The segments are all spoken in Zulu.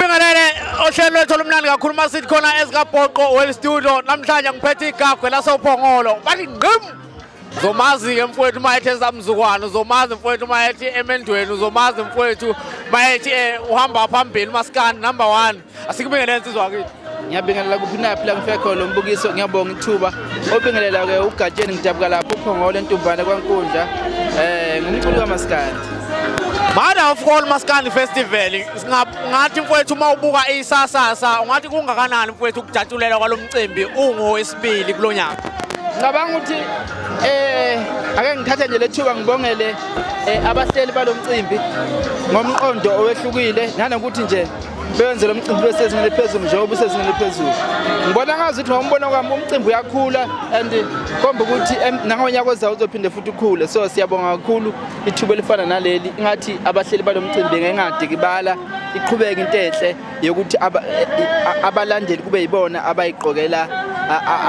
Bingelele ohlelo lwethu olumnandi kakhulu uma sithi khona ezikabhoqo well studio namhlanje ngiphethe igagwe lasophongolo bathi ngqim zomazi-ke mfowethu uma ethi esamzukwana uzomazi mfowethu uma ethi emendweni uzomazi mfowethu uma ethi um uhamba phambili umasikandi number one asikubingelele nsizwa kithi ngiyabingelela kuphi naphi la ngifike khona lombukiso ngiyabonga ithuba obingelela-ke ugatsheni ngidabuka lapho uphongolo entumbane kwankundla um ngumculi kamasikandi Mother of all Maskandi Festival Ngathi mfowethu uma ubuka isasasa ungathi kungakanani mfowethu ukujatshulelwa kwalo mcimbi ungowesibili kulo nyaka ngicabanga ukuthi eh ake ngithathe nje lethuba ngibongele eh, abahleli balomcimbi ngomqondo owehlukile nanokuthi nje bewenze lo mcimbi besezingeni eliphezulu njengoba usezingeni eliphezulu ngibona ngazi ukuthi ngombono kwami umcimbi uyakhula and komba ukuthi nangonyaka ozayo uzophinde futhi ukhule so siyabonga kakhulu ithuba elifana naleli ingathi abahleli balomcimbi ngengadikibala iqhubeke into enhle yokuthi abalandeli kube yibona abayiqokela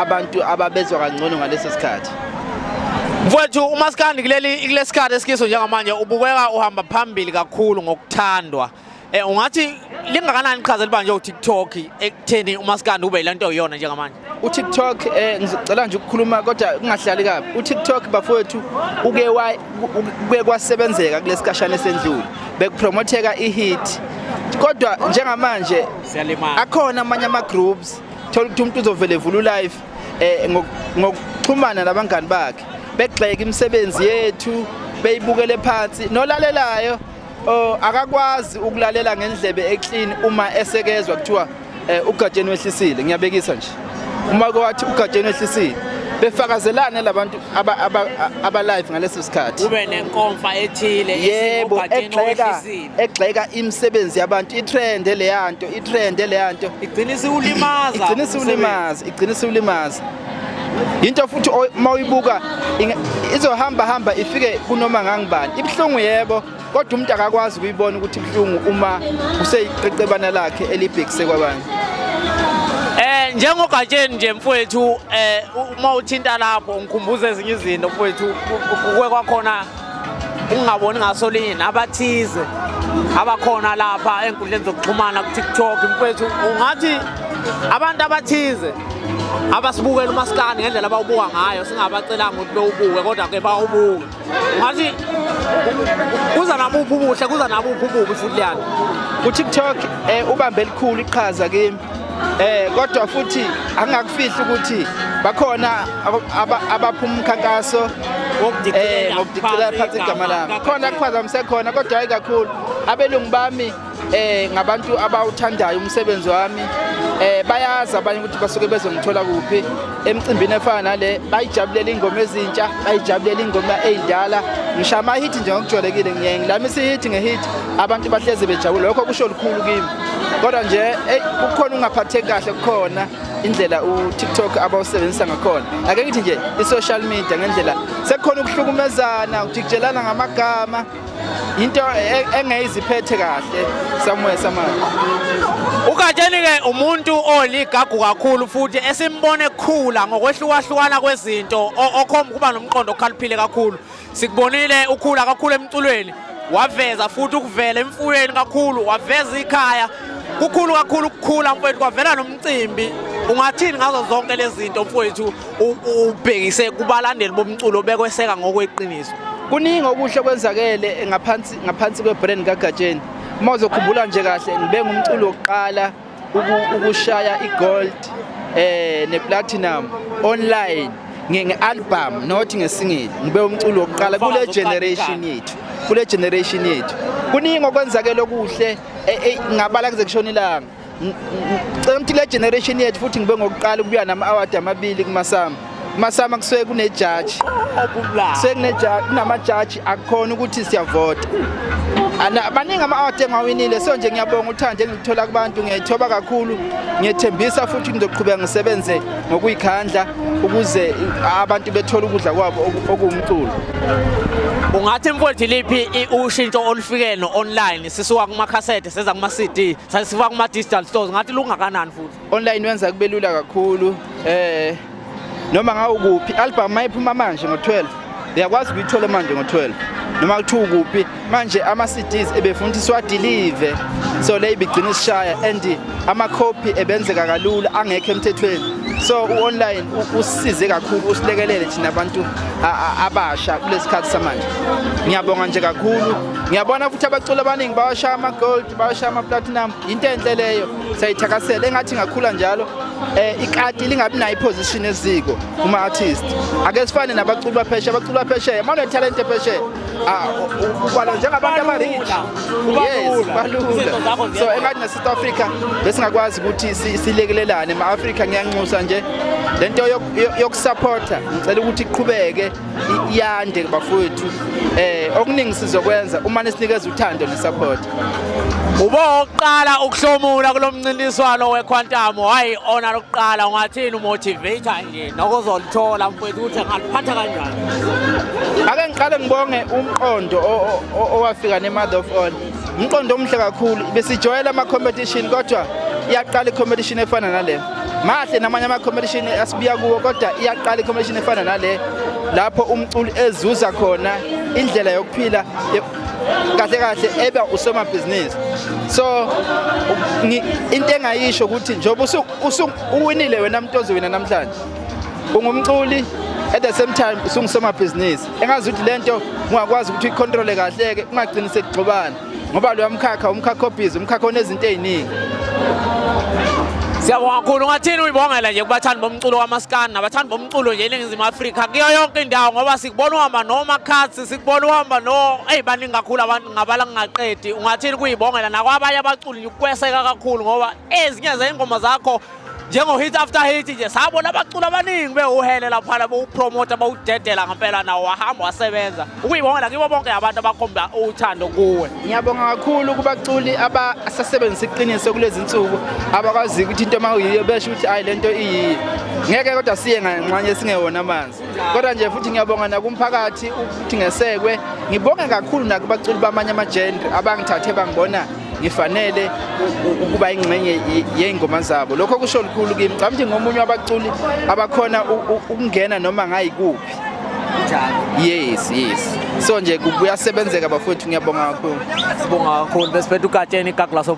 abantu ababezwa kangcono ngaleso sikhathi mfowethu umaskandi kuleli kulesikhathi esikiso njengamanje ubukeka uhamba phambili kakhulu ngokuthandwa Eh ungathi lingakanani iqhaza libanjwe uTikTok ekutheni umaskandi ube lento oyona njengamanje? UTikTok eh ngicela nje ukukhuluma kodwa kungahlali kabi. UTikTok bafowethu uke wa uke kwasebenzeka kulesikashana esendlule. Bekupromotheka ihit. Kodwa njengamanje siyalimala. Akhona amanye ama groups thola ukuthi umuntu uzovele evula ulive eh ngokuxhumana nabangani bakhe begxeka imisebenzi yethu beyibukele phansi nolalelayo Oh akakwazi ukulalela ngendlebe eclean uma esekezwa kuthiwa eh, uGatsheni wehlisile ngiyabekisa nje. Uma kwathi uGatsheni wehlisile befakazelane labantu aba aba, aba live ngaleso sikhathi. Kube nenkomfa ethile yebo egxeka egxeka imisebenzi yabantu itrend leyanto itrend leyanto igcina isiwulimaza igcina isiwulimaza igcina isiwulimaza yinto futhi uma uyibuka izohamba hamba ifike kunoma ngangibani ibuhlungu yebo kodwa umuntu akakwazi ukuyibona ukuthi ibuhlungu uma kuseyiqeqebana lakhe elibhekise kwabanye Eh njengogatsheni nje mfowethu eh uma uthinta lapho ngikhumbuza ezinye izinto mfowethu kuwe kwakhona ungaboni ngaso linye nabathize abakhona lapha enkundleni zokuxhumana ku-tiktok mfethu ungathi abantu abathize abasibukela umasikani ngendlela abawubuka ngayo singabacelanga ukuthi bewubuke kodwa-ke bawubuke ungathi kuza nabuphi ubuhle kuza nabuphi ububi futhi leyana ku-tiktok um ubambe elikhulu iqhaza kimi Eh kodwa futhi angakufihla ukuthi bakhona abaphuma umkhankaso eh ngokudicela phansi igama lami. Khona kuphazamisa khona kodwa hayi kakhulu. Abelungu bami eh ngabantu abawuthandayo umsebenzi wami eh bayazi abanye ukuthi basuke bezongithola kuphi emcimbini efana nale bayijabulela ingoma ezintsha bayijabulela ingoma ezindala ngishama hit nje ngokujwayelekile ngiye ngilamisa hit ngehit abantu bahleze bejabule lokho kusho lukhulu kimi kodwa nje eyi kukhona ungaphatheki kahle kukhona indlela uTikTok abawusebenzisa ngakhona ake ngithi nje i-social media ngendlela sekukhona ukuhlukumezana ukujikijelana ngamagama into e-, engeyiziphethe kahle somewhere somehow ugatsheni-ke umuntu oligagu kakhulu futhi esimbona ekhula ngokwehlukahlukana kwezinto okhomba ukuba nomqondo okhaliphile kakhulu Sikubonile ukhula kakhulu emculweni waveza futhi ukuvela emfuyweni kakhulu waveza ikhaya kukhulu kakhulu ukukhula mfowethu kwavela nomcimbi ungathini ngazo zonke lezi zinto mfowethu ubhekise kubalandeli bomculo bekweseka ngokweqiniso kuningi okuhle okwenzakele ngaphansi ngaphansi kwebrand kaGatsheni uma uzokhumbula nje kahle ngibengumculo wokuqala ukushaya igold eh neplatinum online nge-album not ngesingili ngibe umculo wokuqala kule generation yethu kule generation yethu kuningi okwenzakele okuhle e, e, ngabala kuze kushona ilanga cela ukuthi le generation yethu futhi ngibe ngokuqala ukubuya nama-award amabili kumasama masama kusuke kunejaji kusuke kunejaji kunamajaji akukhona ukuthi siyavota baningi ama-award engiwawinile so nje ngiyabonga uthando engilithola kubantu ngiyayithoba kakhulu ngiyethembisa futhi ngizoqhubeka ngisebenze ngokuyikhandla ukuze abantu bethole ukudla kwabo okuwumculo ungathi mfowethu liphi ushintsho olufikeno online sisuka kumakhasethe seza kuma-cd sasifuka kuma-digital stores ngathi lungakanani futhi Online wenza kube lula kakhulu eh noma ngawukuphi album mayiphuma manje ngo12 uyakwazi ukuyithola manje ngo12 noma kuthiwa ukuphi manje ama CDs ebefuna ukuthi siwadelive so le ibigcina isishaya and ama copy ebenzeka kalula angekho emthethweni so uonline usize kakhulu usilekelele thina abantu abasha kulesikhathi samanje ngiyabonga nje kakhulu ngiyabona futhi abaculi abaningi bawashaya ama gold bawashaya ama platinum into enhle leyo siyayithakasela engathi ngakhula njalo eh ikati lingabi nayo iposition eziko kuma artist ake sifane nabaculi bapheshe abaculi bapheshe manje talent epheshe ah ubala njengabantu abarich yes balula so engathi na South Africa besingakwazi ukuthi silekelelane ma Africa ngiyanxusa nje lento yokusupporta ngicela ukuthi iqhubeke iyande bafowethu eh okuningi sizokwenza uma nisinikeza uthando nesupport uboqala ukuhlomula kulomncintiswano wequantum hayi ona lokuqala ungathini umotivator nje nokuzolithola mfowethu ukuthi angaliphatha kanjani ake ngiqale ngibonge umqondo owafika nemother of all umqondo omuhle kakhulu besijwayela ama competition kodwa iyaqala i competition efana nale mahle namanye ama-competition asibiya kuwo kodwa iyaqala i-competition efana nale lapho umculi ezuza khona indlela yokuphila kahle kahle eba usomabhizinisi so into engayisho ukuthi njengoba uwinile wena muntu ozowina namhlanje ungumculi at the same time usungusomabhizinisi engazi ukuthi le nto ungakwazi ukuthi uyikhontrole kahle-ke ungagcini sekugxobana ngoba loya mkhakha umkhakha obhizi umkhakha onezinto eziningi Siyabonga kakhulu ngathini uyibongela nje kubathandi bomculo kamaskani nabathandi bomculo nje eNingizimu Afrika kuyo yonke indawo ngoba sikubona uhamba noMakhathi sikubona uhamba no eyi baningi kakhulu abantu ngabala ngingaqedi ungathini kuyibongela nakwabanye abaculi ukweseka kakhulu ngoba ezinye zey'ngoma zakho njengo-hit after hit nje sabona abaculi abaningi bewuhele laphana bowupromota bawudedela ngempela nawo wahamba wasebenza ukuyibongela kibo bonke abantu abakhomba uthando kuwe ngiyabonga kakhulu kubaculi abasasebenzisa iqiniso kulezi nsuku abakwazi ukuthi into uma uyiyo besho ukuthi ayi le nto iyiyo ngeke kodwa siye nganxanye singewona amanzi kodwa nje futhi ngiyabonga nakumphakathi ukuthi ngesekwe ngibonge kakhulu nakubaculi bamanye amajendre abangithathe bangibona ngifanele ukuba ingxenye yey'ngoma zabo lokho kusho lukhulu kimi cabanga ukuthi ngomunye wabaculi abakhona ukungena noma ngayikuphi yes yes so nje kuyasebenzeka bafowethu ngiyabonga kakhulu sibonga kakhulu besiphethe ugatsheni igaglaso